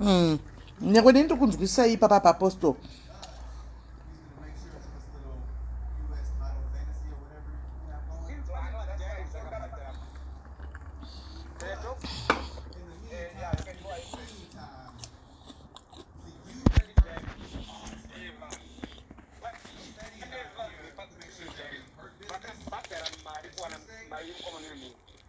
mm. nyangwe neni ndiri kunzwisisa ipapa paapostle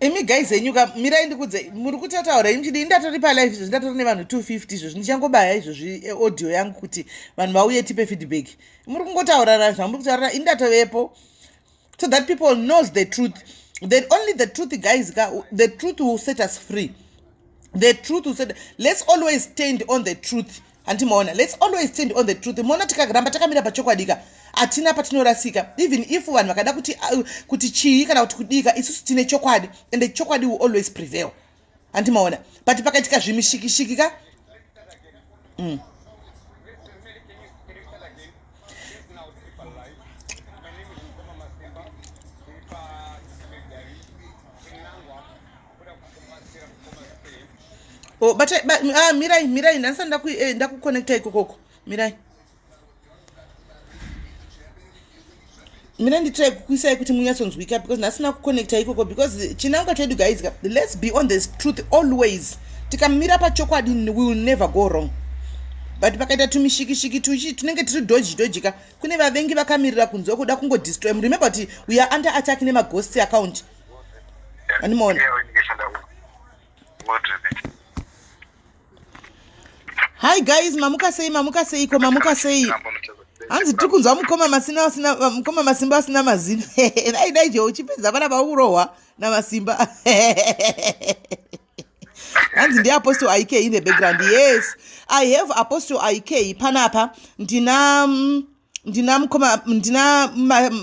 imi guys henyu ka mirai ndikudze muri kuti ataura imi chidii ndatori palive izvozvi ndatori nevanhu 250 izvozvi ndichangobaya izvozvi eh, audio yangu kuti vanhu vauye tipe feedback muri kungotaurara zvamuri kutaurara ini ndatovepo so that people knows the truth then only the truth guys ka the truth will set us free the truth will set let's always stand on the truth handi maona lets always stand on the truth moona tikaramba takamira pachokwadika hatina patinorasika even if vanhu vakada kuti, uh, kuti chii kana kuti kudika isusu tine chokwadi and the chokwadi will always prevail handi maona but pakaitika zvimishikishiki ka mm. Oh, but, eh, but ah, mirai mirai ndanisa eh, ndakuconnecta eh, ikokoko mirai mina nditrai kukuisai kuti munyatsonzwika because ndasina kuconnecta ikoko because chinangwa chedu guys let's be on the truth always tikamira pachokwadi will never go wrong but pakaita tumishikishiki tuchi tunenge tiri doji doji ka kune vavengi vakamirira kunzwa kuda kungodestroy remember kuti we are under attack nemagosti account Anymore. Hi guys, mamuka sei mamuka sei ko mamuka sei. Hanzi tiri kunzwa mukoma masina asina mukoma masimba asina mazino. Dai dai je uchipedza vana vaurohwa na masimba. hanzi ndi apostle ik in the background yes i have apostle ik panapa ndina mm, ndina mukoma ndina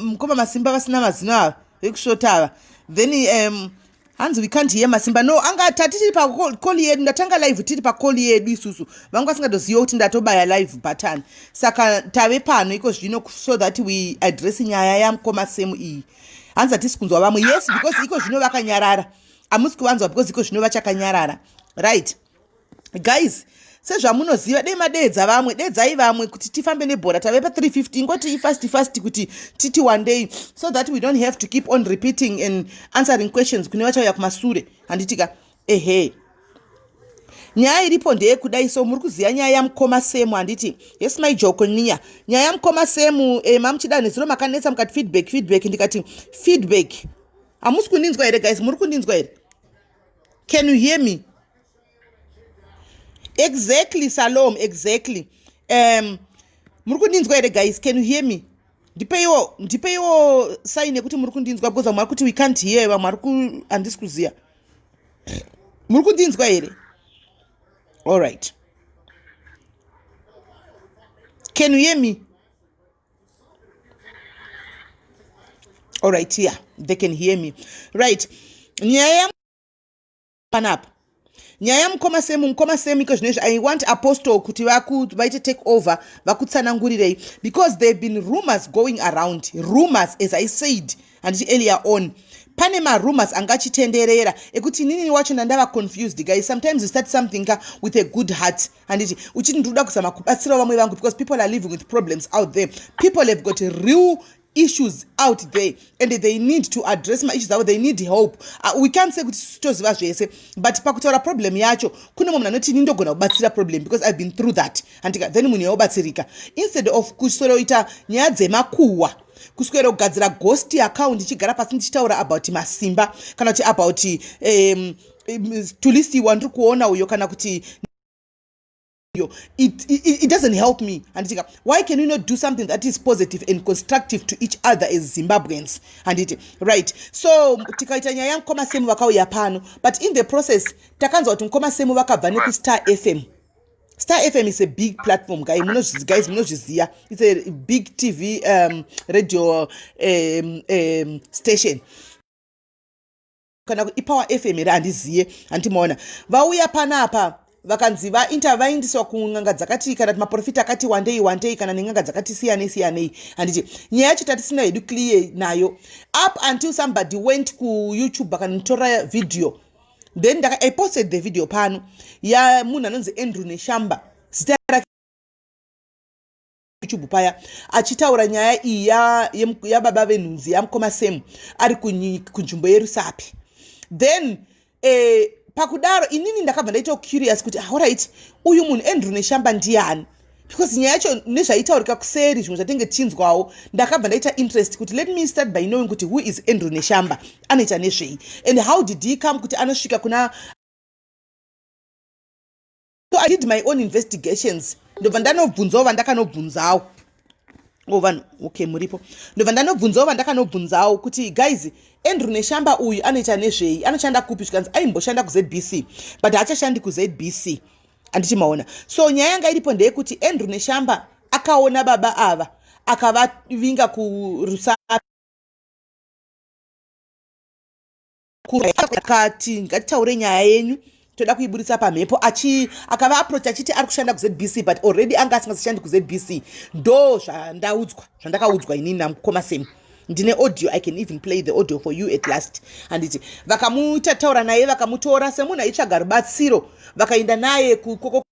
mukoma masimba vasina mazino ava vekusvota ava then um, hanzi we can't hear masimba no anga tatichiri pakoli yedu ndatanga live tiri pakoli yedu isusu vangu vasingadoziva kuti ndatobaya live button saka tave pano iko zvino so that we address nyaya yamukoma semu iyi hanzi hatisi kunzwa vamwe yes because iko zvino vakanyarara hamusi kuvanzwa because iko zvino vachakanyarara right guys sezvamunoziva dei madeedza vamwe deedzai vamwe kuti tifambe nebhora tave pa350 ingoti ifast fast kuti titi wandei so that we don't have to keep on repeating and answering questions kune vachauya kumasure handitika ehe nyaya iripo ndeyekudai so muri kuziva nyaya yamukoma semu handiti yes my joko niya nyaya yamukoma semu e, eh, mamuchida nezuro makanetsa mukati feedback feedback ndikati feedback hamusi kundinzwa here guys muri kundinzwa here can you hear me exactly salom exactly um muri kundinzwa here guys can you hear me ndipeiwo ndipeiwo sign yekuti muri kundinzwa because vamwe vari kuti we can't hear vamwe vari ku handisi kuziva muri kundinzwa here all right can you hear me all right yeah they can hear me right nyaya panapa nyaya mukoma semu mukoma semu iko zvino izvi i want apostle kuti vaite take over vakutsanangurirei because there have been rumors going around rumors as i said handiti earlier on pane marumors anga achitenderera ekuti inini wacho ndandava confused guys sometimes you start something ka with a good heart handiti uchiti ndiri kuda kuzama kubatsirawo vamwe vangu because people are living with problems out there people have got real issues out there and they need to address maissues avo they need help uh, we can't say kuti sitoziva zvese but pakutaura problem yacho kune mwe munhu anoti ini ndogona kubatsira problem because i've been through that andika then munhu yaobatsirika instead of kusoroita nyaya dzemakuhwa kuswera kugadzira ghost account ichigara pasi ndichitaura about masimba kana kuti about um, tulisi wandiri kuona uyo kana kuti iyo it, it, it doesn't help me handitika why can we not do something that is positive and constructive to each other as zimbabweans handiti right so tikaita nyaya yamukoma semu vakauya pano but in the process takanzwa kuti mukoma semu vakabva nekustar fm star fm is a big platform guy guys munozviziva its a big tv um, radio um, um, station kana ipower fm here handiziye handiti maona vauya panapa vakanzi vainta vaindiswa kun'anga dzakati kana kuti maprofita akati wandei wandei kana nen'anga dzakati siyanei siyanei handiti nyaya yacho tatisina hedu clear nayo up until somebody went kuyoutube akanotora video then ndaka i posted the video pano yamunhu anonzi andrew neshamba zita rake YouTube paya achitaura nyaya iyi yababa ya venhunzi yamukoma Sam ari kunzvimbo yerusapi then eh, pakudaro inini ndakabva ndaita curious kuti auright ah, uyu munhu Andrew Neshamba ndiani because nyaya yacho nezvaitaurika kuseri zvimwe zvatenge tichinzwawo ndakabva ndaita interest kuti let me start by knowing kuti who is Andrew Neshamba anoita nezvei and how did he come kuti anosvika kuna so i did my own investigations ndobva ndanobvunzawo vandakanobvunzawo o oh, vanhu okay muripo ndobva ndanobvunzawo vandakanobvunzawo kuti guys andrew neshamba uyu anoita nezvei anoshanda kupi zvikanzi aimboshanda kuzbc but haachashandi kuzbc handiti maona so nyaya yanga iripo ndeyekuti andrew neshamba akaona baba ava akavavinga kurusapi kati ngatitaure nyaya yenyu toda kuiburitsa pamhepo achi akava aproach achiti ari kushanda kuzbc but already anga asingazishandi kuzbc ndo zvandaudzwa zvandakaudzwa inini namukoma same ndine audio i can even play the audio for you at last handiti vakamuita taura naye vakamutora semunhu aitsvaga rubatsiro vakaenda naye kukoko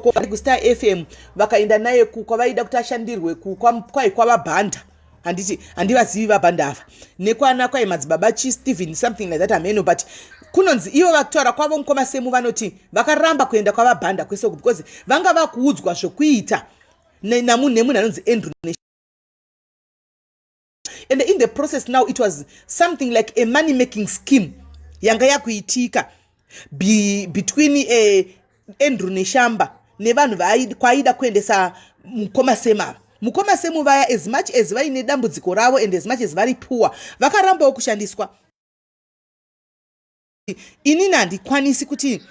ko vari kustar fm vakaenda naye kukwa vaida kuti ashandirwe kukwa kwai kwavabhanda handiti handivazivi vabhanda ava nekwana kwai madzibaba chi stephen something like that ameno but kunonzi ivo vakutaura kwavo mukoma semu vanoti vakaramba kuenda kwavabhanda kwese uku because vanga vakuudzwa zvokuita namunhu nemunhu anonzi andrew and in the process now it was something like a money making scheme yanga yakuitika be, between uh, andrew neshamba nevanhu kwaaida kuendesa mukoma semava mukoma semu vaya as much as vaine dambudziko ravo and as much as vari poor vakarambawo kushandiswa inini handikwanisi kuti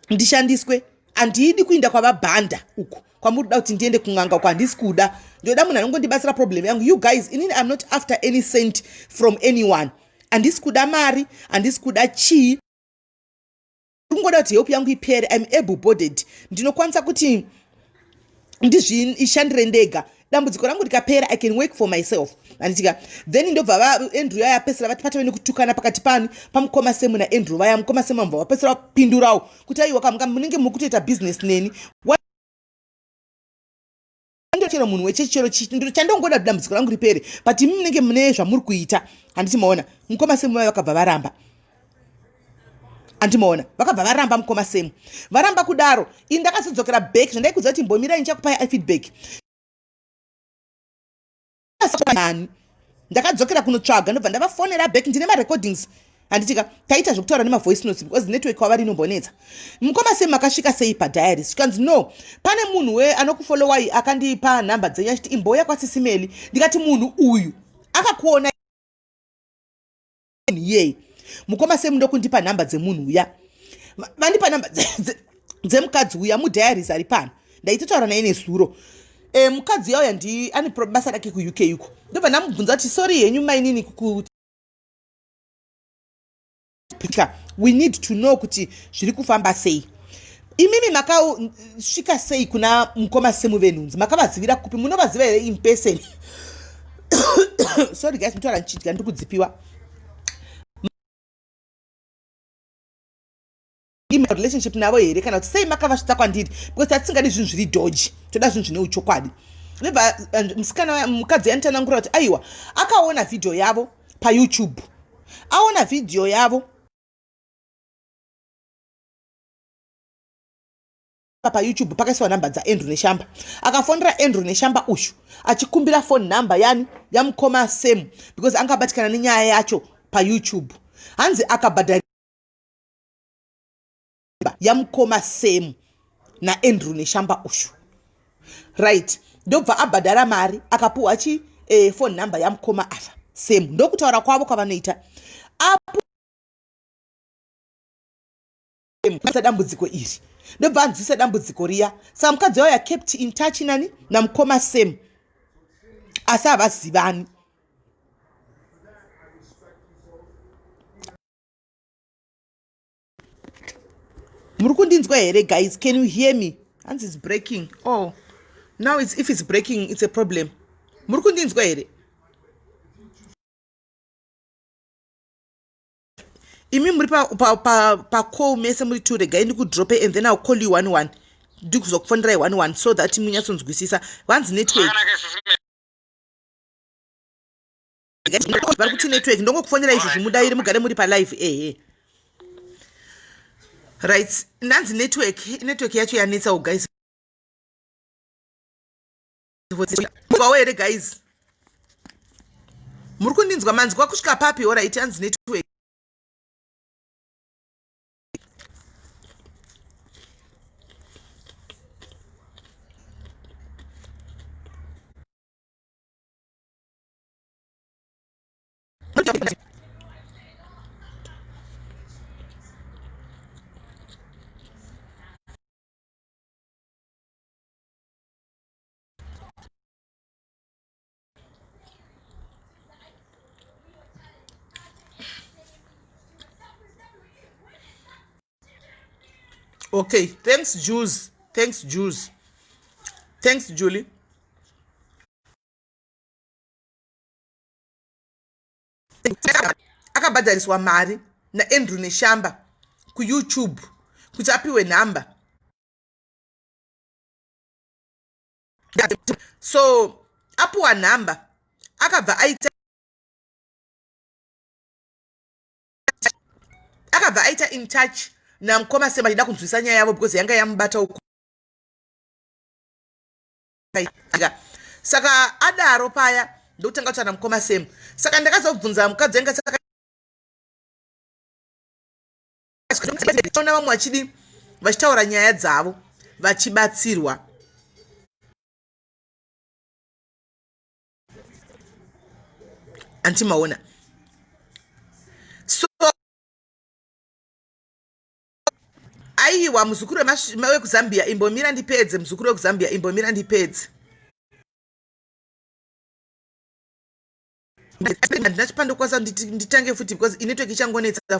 ndishandiswe handidi kuinda kwavabhanda uku kwamuri kuda kuti ndiende kun'anga uko handisi kuda ndoda munhu anongondibatsira problem yangu you guys inini iam not after any cent from anyone handisi kuda mari handisi kuda chii kungoda kuti help yangu ipere iam able borded ndinokwanisa kuti ndizviishandire ndega dambudziko rangu rikapera i can work for myself handitika then ndobva vaandrew yaya apesera vati patove nekutukana pakati pani pamukoma semu naandrew vaya mukoma semu vamva vapesera vapindurawo kuti aiwa kamuka munenge muri kutoita business neni ndochero munhu wechechi chero chandongoda kuti dambudziko rangu ripere but imi munenge mune zvamuri kuita handiti maona mukoma semu vaya vakabva varamba andimoona vakabva varamba mukoma semu varamba kudaro ini ndakazodzokera back zvandaikuziva kuti mbomira ini chakupai ifeedback ani ndakadzokera kunotsvaga ndobva ndavafonera back ndine marecordings handitika taita zvekutaura nemavoice notes because network kwavari inombonetsa mukoma semu makasvika sei padiaris zvikanzi no pane munhu we anokufolowai akandipa nhamba dzenyu achiti imbouya kwasisimeli ndikati munhu uyu akakuona here mukoma semu ndokundipa nhamba dzemunhu uya vandipa nhamba dzemukadzi uya mudiaries ari pano ndaitotaura naye nezuro e, mukadzi uya uya ndi ane basa rake kuuk uko ndobva ndamubvunza kuti sori henyu mainini kuti we need to know kuti zviri kufamba sei imimi makasvika sei kuna mukoma semuvenhunzi makavazivira kupi munovaziva here in person sorry guys mutaura ndichidya ndiri kudzipiwa relationship navo here kana kuti sei makavasvitsa kwandiri because tatisingadi zvinhu zviri doji toda zvinhu zvine uchokwadi nebva eh, musikana mukadzi yanitanangura kuti aiwa akaona vhidhiyo yavo payoutube aona vhidhiyo yavo payoutube pakaisiwa nhamba dzaandrew neshamba akafonera andrew neshamba uyu achikumbira phone number yani yamukoma sam because anga abatikana nenyaya yacho payoutube hanzi akabhadhara yamukoma sam naandrew neshamba uyu right ndobva abhadhara mari akapuhwa chi eh, phone number yamukoma ava sam ndokutaura kwavo kwavanoita apo mukwanisa dambudziko iri ndobva anzwisa dambudziko riya saka mukadzi wavo yakept in touch nani namukoma sam asi havazivani muri kundinzwa here guys can you hear me hanzi its breaking oh now it's, if it's breaking it's a problem muri kundinzwa here imi muri pa, pa, pa, pa call mese muri two regai ndikudrope and then ill call you one one ndikuzokufonerai one one so that munyatsonzwisisa vanzi network vari kuti network ndongokufonera izvo zvimudairi mugare muri palive ehe right ndanzi network network yacho yanetsawo guys here guys muri kundinzwa manzwa kusvika papi orit hanzi network okay thanks juice thanks juice thanks julie akabhadhariswa mari naandrew neshamba kuyoutube kuti apiwe nhamba so apuwa nhamba akabva aita akabva aita in touch namukoma sema achida kunzwisa nyaya yavo because yanga yamubata uku saka adaro paya ndokutanga kutaura namukoma sema saka ndakazobvunza mukadzi anga saka vamwe vachidi vachitaura nyaya dzavo vachibatsirwa antimaona so aiwa muzukuru wekuzambia imbomira ndipedze muzukuru wekuzambia imbomira ndipedze handina chipandokwanisa nditange futi because inetwork ichangonetsa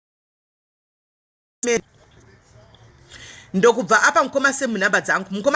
ndokubva apa mukoma semu nhamba dzangu mukoma